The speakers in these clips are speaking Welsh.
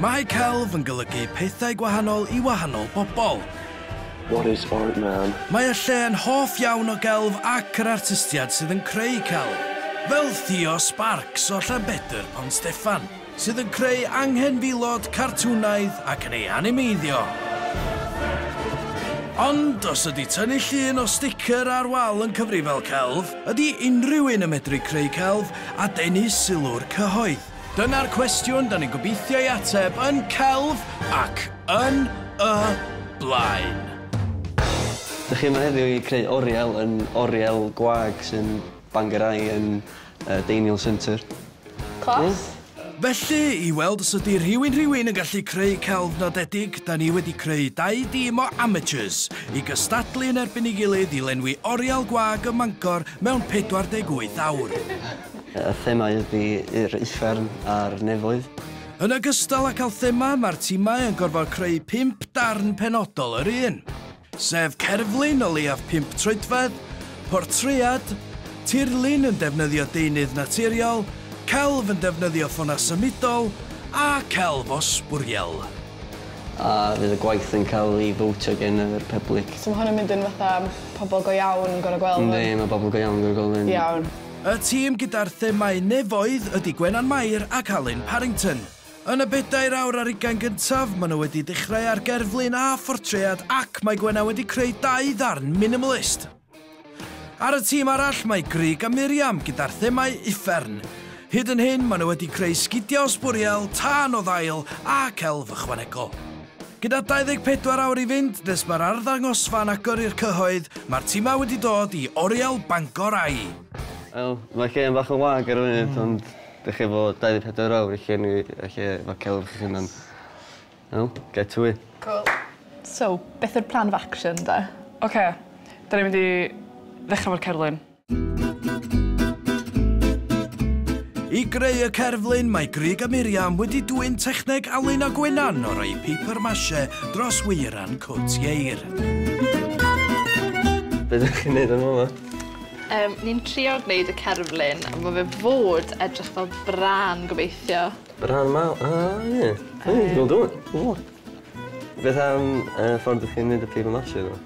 Mae celf yn golygu pethau gwahanol i wahanol bobl. What is art man? Mae y lle yn hoff iawn o gelf ac yr artistiad sydd yn creu celf, fel Theo Sparks o Llanbedr Pont Steffan, sydd yn creu anghenfilod cartwnaidd ac yn ei animeiddio. Ond os ydy tynnu llun o sticker ar wal yn cyfrifel celf, ydy unrhyw un yn medru creu celf a denu sylw'r cyhoedd? Dyna'r cwestiwn da ni'n gobeithio ei ateb yn celf ac yn y blaen. Dych chi yma heddiw i creu oriel yn oriel gwag sy'n Bangor Eye yn y Deiniol Centre. Clos. Felly, i weld os ydy rhywun rhywun yn gallu creu celf nodedig, da ni wedi creu dau dîm o amateurs i gystadlu yn erbyn ei gilydd i lenwi oriel gwag ym Mangor mewn 48 awr. Y thema ydy yr uffern a'r nefoedd. Yn ogystal â cael thema, mae'r timau yn gorfod creu pump darn penodol yr un, sef cerflun o leiaf pump troedfedd, portread, tirlun yn defnyddio deunydd naturiol, celf yn defnyddio ffonau symudol a celf o sbwriel. A fydd y gwaith yn cael ei fowtio gen yr pyblic? So mae hwn yn mynd yn fatha pobl go iawn yn gorfod gweld hwn? Yndi, mae pobl go iawn yn gorfod gweld hyn. Iawn. Y tîm gyda'r themâu nefoedd ydy Gwenan Mair ac Alun Parrington. Yn y bedair awr ar ugain gyntaf, maen nhw wedi dechrau ar gerflun a phortread ac mae Gwenan wedi creu dau ddarn minimalist. Ar y tîm arall mae Grug a Miriam gyda'r themâu uffern. Hyd yn hyn, maen nhw wedi creu sgidiau o sbwriel, tân o ddail ac elf ychwanegol. Gyda 24 awr i fynd nes mae'r arddangosfa'n agor i'r cyhoedd, mae'r timau wedi dod i Oriel Bangor ai. Wel, mae'r gêm bach yn wag ar y funud ond dych chi efo 24 awr i llenwi y lle efo celf chi'ch hunan. Wel, get to it. Cŵl. So, beth yw'r plan of action 'da? Ocê, 'da ni'n mynd i ddechra efo'r cerflun. I greu y cerflun, mae Grig a Miriam wedi dwyn techneg Alun a Gwenan o roi paper mache dros weiran cwt ieir. Be ydych chi'n neud yn yma? Um, ni'n trio gwneud y cerflun, ond mae fe fod edrych fel bran gobeithio. Bran maw? A, ie. Dwi'n gweld o'n. Beth am uh, ffordd ydych chi'n neud y paper mache?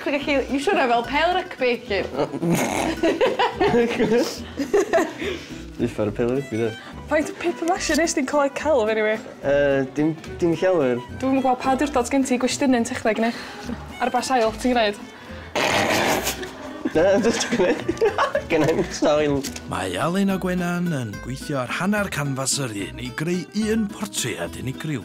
Chi'n gallu iwsio hwnna fel pêl rygbi. Dwi'n uffar o pêl rygbi dw. Faint o paper mache nes di colli celf eniwe? Yy dim dim llawer. Dwi'm yn gweld pa awdurdod sgen ti gwestiynu yn techneg ne? Ar ba sail ti'n gneud? Na jyst gneud gneud sail. Mae Alun a Gwenan yn gweithio ar hanner canfas yr un i greu un portread unigryw.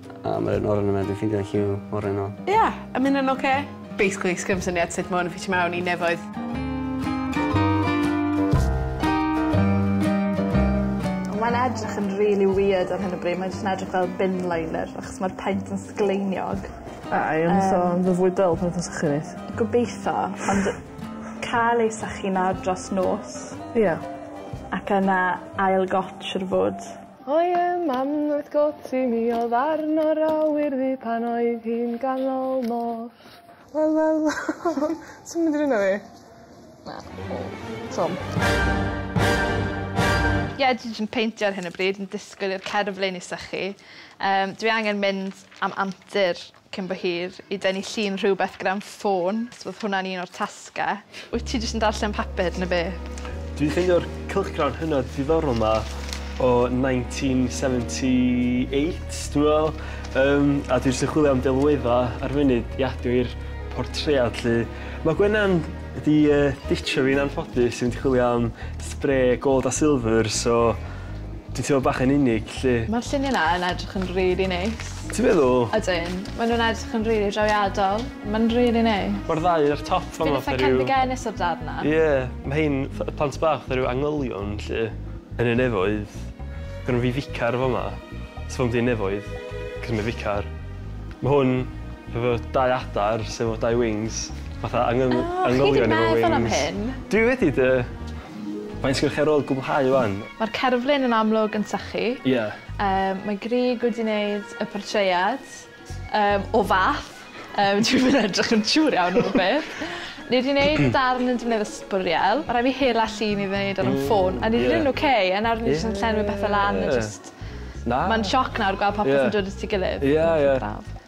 A ma'r un oren yma dwi'n ffindio hi yw oren o. Ia, a ma' ynna'n oce. Basically sgim syniad sut ma' 'wn yn ffitio mewn i nefoedd. Mae'n edrych yn rili wierd ar hyn o bryd mae jyst yn edrych fel bin liner achos ma'r paent yn sgleiniog. A i fod yn so- yn fy fwy dull pan dwi'n sychu reit. Gobeitho ond ca'l ei sychu nawr dros nos. Ia. Ac yna ail gotsh ar y fwrdd. O'i mam oedd Goti, mi oedd arno'r awyr ddu pan oedd hi'n ganol nos. Wel wel wel. Ti'm mynd i rwyno fi? Na. O. Twm. Ie dwi js yn peintio ar hyn o bryd yn disgwyl i'r cerflun i sychu. Yym dwi angen mynd am antur. cyn bo hir, i dynnu llun rhywbeth gyda fy ffôn, so oedd hwnna'n un o'r tasgau. Wyt ti jyst yn darllen papur neu be? Dwi'n ffeindio'r cylchgrawn hynod ddiddorol 'ma o nineteen seventy eight dwi me'wl yym a dwi jyst yn chwilio am delwedda' ar funud i adio i'r portread 'lly. Ma' Gwenan 'di yy ditshio fi'n anffodus i fynd i chwilio am spray gold a silver so Ti'n teimlo bach yn unig 'lly. Ma'r llunie 'na yn edrych yn rili neis. Ti'n meddwl? Ydyn. Ma' nw'n edrych yn rili drawiadol. Ma'n rili neis. Ma'r ddau ar y top fama fatha ryw... Fi'n itha cefndigenus o'r darn 'na. Ie, ma' rhein fatha y plant bach fatha ryw angylion 'lly. Yn y nefoedd. Gynno fi ficar fama. Sy ddim yn nefoedd, 'c'os ma' ficar. Ma' hwn hefo dau adar sy efo dau wings fatha angyn- angylion efo wings. O! Chi 'di meddwl am hyn? Dwi wedi 'de. Faint sgennoch chi ar ôl cwblhau 'wan? Mae'r cerflun yn amlwg yn sychu. Ie. Yym mae Grug wedi neud y portread yym o fath yym dwi'm yn edrych yn siŵr iawn am y peth. Ni 'di neud darn yn defnyddio sbwriel. Ma' rai' fi hela llun i neud ar 'yn ffôn. Ww ie. A ni 'di neud yn oce a nawr ni jyst yn llenwi pethe lan a jyst... Na. Ma'n sioc nawr gweld popeth yn dod at 'i gilydd. Ie ie. Braf.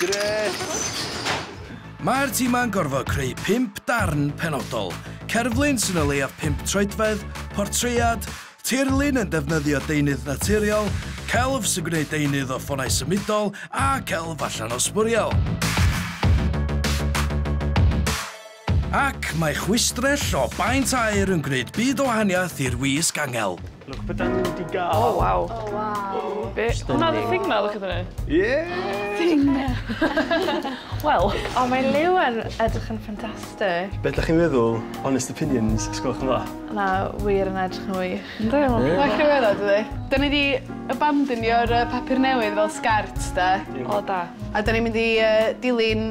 Grêt! Mae'r timau'n gorfod creu pump darn penodol, cerflun sy'n o leiaf pump troedfedd, portread, tirlun yn defnyddio deunydd naturiol, celf sy'n gwneud deunydd o ffonau symudol a celf allan o sbwriel. Ac mae chwistrell o baent aer yn gwneud byd o wahaniaeth i'r wisg angel. Look be dan ni wedi gael! O waw! O waw! Be? Hwnna oedd y thing na, lwciodd hynny? Ie! Thing na! Wel! O mae Liw yn edrych yn ffantastig! Be dach chi'n meddwl? Honest opinions, os gwelwch yn dda? Na, wir yn edrych yn wych. Yndi, mae'n wych. Mae'n rhyfeddod dydi? Dan ni 'di abandonio'r yy papur newydd fel sgert de. O da. A dan ni'n mynd i yy dilyn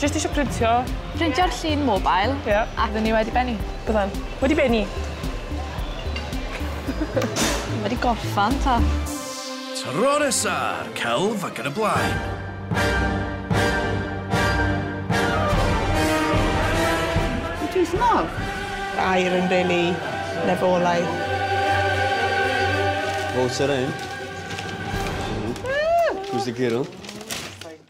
Jyst eisiau printio. Printio'r llun mobile. Ie. Yeah. A fydden ni wedi benni. Byddan. Wedi benni. wedi gorffan ta. Tro nesa ar celf ac yn y blaen. air yn rili lefolaidd. Water in. Who's the girl?